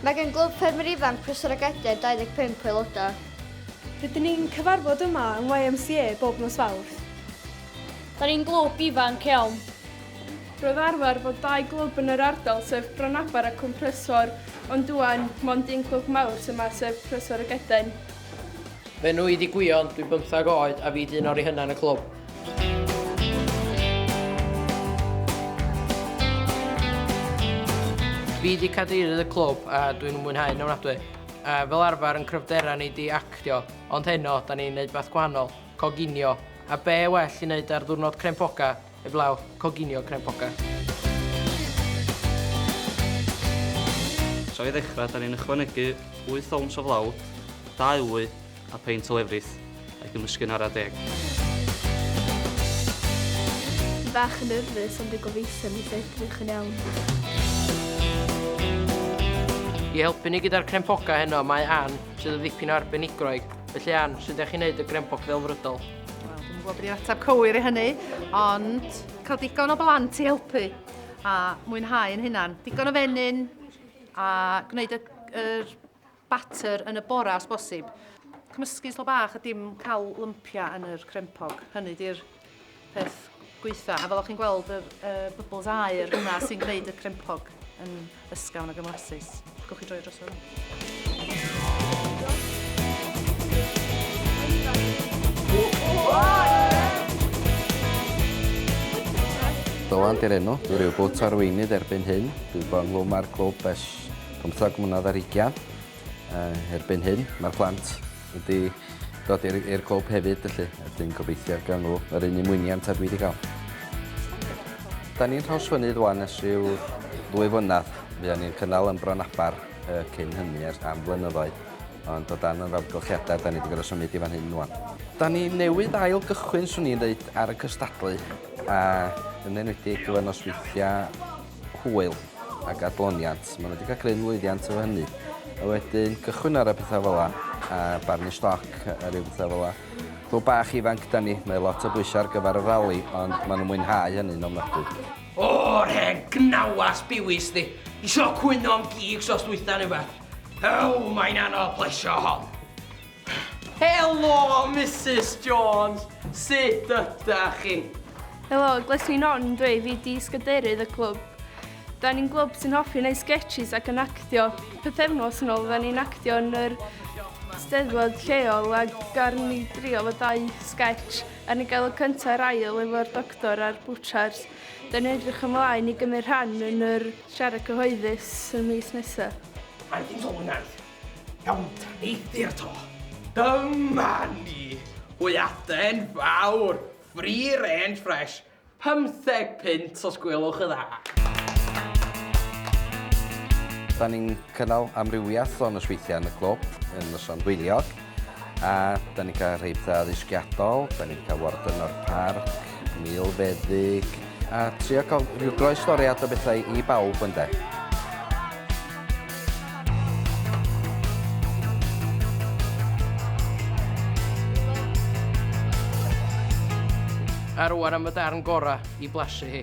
Mae gan Glwb Ffermwyr Ifanc Prysor a Gadeir 25 o aelodau. Rydyn ni'n cyfarfod yma yng YMCA bob nos Fawrth. Da ni'n glwb ifanc iawn. Roedd arfer fod dau glwb yn yr ardal sef Branabar a Cwm Prysor ond ŵan mond un clwb mawr sy yma sef Prysor a Gadeir. Fy enw i 'di Gwion, dwi'n bymthag oed a fi 'di un o'r rei hynna yn y clwb. Fi di cadeirydd y clwb a dwi'n mwynhau yn ofnadwy. A fel arfer yn cryfdera ni di actio, ond heno da ni'n neud beth gwahanol, coginio. A be well i neud ar ddwrnod crempoga, eblaw, coginio crempoga. So i ddechrau, da ni'n ychwanegu 8 owns o flawd, 2 wy, a peint o lefrith, ac ymysgu'n ara deg. Dwi bach yn nyrfys ond dwi gobeithio neith o edrych yn iawn. I helpu ni gyda'r crempogau heno mae Ann, sydd yn ddipyn o arbenigroeg. Felly Ann, sut ydych chi'n neud y grempog ddelfrydol? Wel, dwi'm yn gwybod beth yw'r ateb cywir i hynny, ond cael digon o blant i helpu a mwynhau yn hynna'n Digon o fenyn a gwneud y, yr batter yn y bora os bosib. Cymysgu slo bach a dim cael lympiau yn yr crempog. Hynny di'r peth gweitha. A fel o'ch chi'n gweld yr uh, bubbles aer yna sy'n gwneud y crempog yn ysgawn ag ymlasus. Gwch chi droi dros fel Dylan di'r enw. Dwi rhyw bwt arweinydd erbyn hyn. Dwi bod ynghlwm ar glwb ers Pymtheg mlynedd ar ugian. Uh, erbyn hyn, mae'r plant wedi dod i'r clwb hefyd, felly ydyn gobeithio gan nhw yr un ymwyniant a dwi wedi cael. Da ni'n rhawsfynydd wan ys rhyw ddwy fynad. Fydda ni'n cynnal yn Bron Abar uh, cyn hynny ers am flynyddoedd. Ond o dan yr amgylchiadau, da ni wedi gorau symud i fan hyn wan. Da ni newydd ail gychwyn, swn i'n dweud, ar y cystadlu. A yn enwedig gyfer nosweithiau hwyl ac adloniant. Maen nhw wedi cael cryn lwyddiant efo hynny. A wedyn cychwyn ar y pethau fel la, a barnu stoc a rhyw bethau fel la. Clwb bach ifanc da ni, mae lot o bwysau ar gyfer y rali, ond maen nhw'n mwynhau hynny'n ofnadwy. O, yr hen gnawas biwis di. Isio cwyno am gigs os dwytha neu wbath. Ew, mae'n anodd plesio hon. Helo Misus Jones, sut ydach chi? Helo, gles fi'n Ron dw i, fi di sgadeirydd y clwb. Da ni'n glwb sy'n hoffi wneud sketches ac yn actio. Pythefnos yn ôl, da ni'n actio yn yr steddfod lleol a gar ni drio fo dau sketch a ni gael y cyntaf a'r ail efo'r doctor a'r bwchars. Da ni'n edrych ymlaen i gymryd rhan yn yr siarad cyhoeddus yn mis nesaf. Aeth hi'n sownd neis. Iawn, eithr to. Dyma ni! Hwyaden fawr, free range fresh, pymtheg punt os gwelwch yn dda. Da ni'n cynnal amrywiaeth o nosweithiau yn y clwb yn noson hwyliog. A da ni'n cael rheiptha addysgiadol, da ni'n cael warden o'r parc, milfeddyg, a trio cael rhyw groestoriad o bethau i bawb yn de. A rwan am y darn gorau i blasu hi.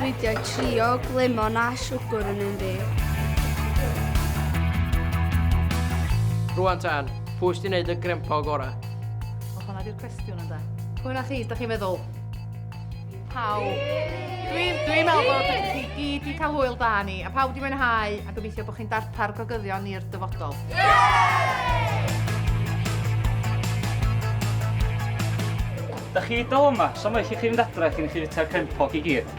Dwi wedi trio glemon a siwgr yn un fi. Rwan tan, pwy sy'n neud y grempo gorau? O, hwnna di'r cwestiwn ynddo. Pwy na chi, da chi'n meddwl? Pawb. Dwi'n dwi meddwl bod chi gyd wedi cael hwyl da ni, a pawb wedi mwynhau, a gobeithio bod chi'n darpar gogyddion i'r dyfodol. Yeah! Da chi i dal yma, so mae chi chi fynd adre cyn i chi fita'r crempog i gyd.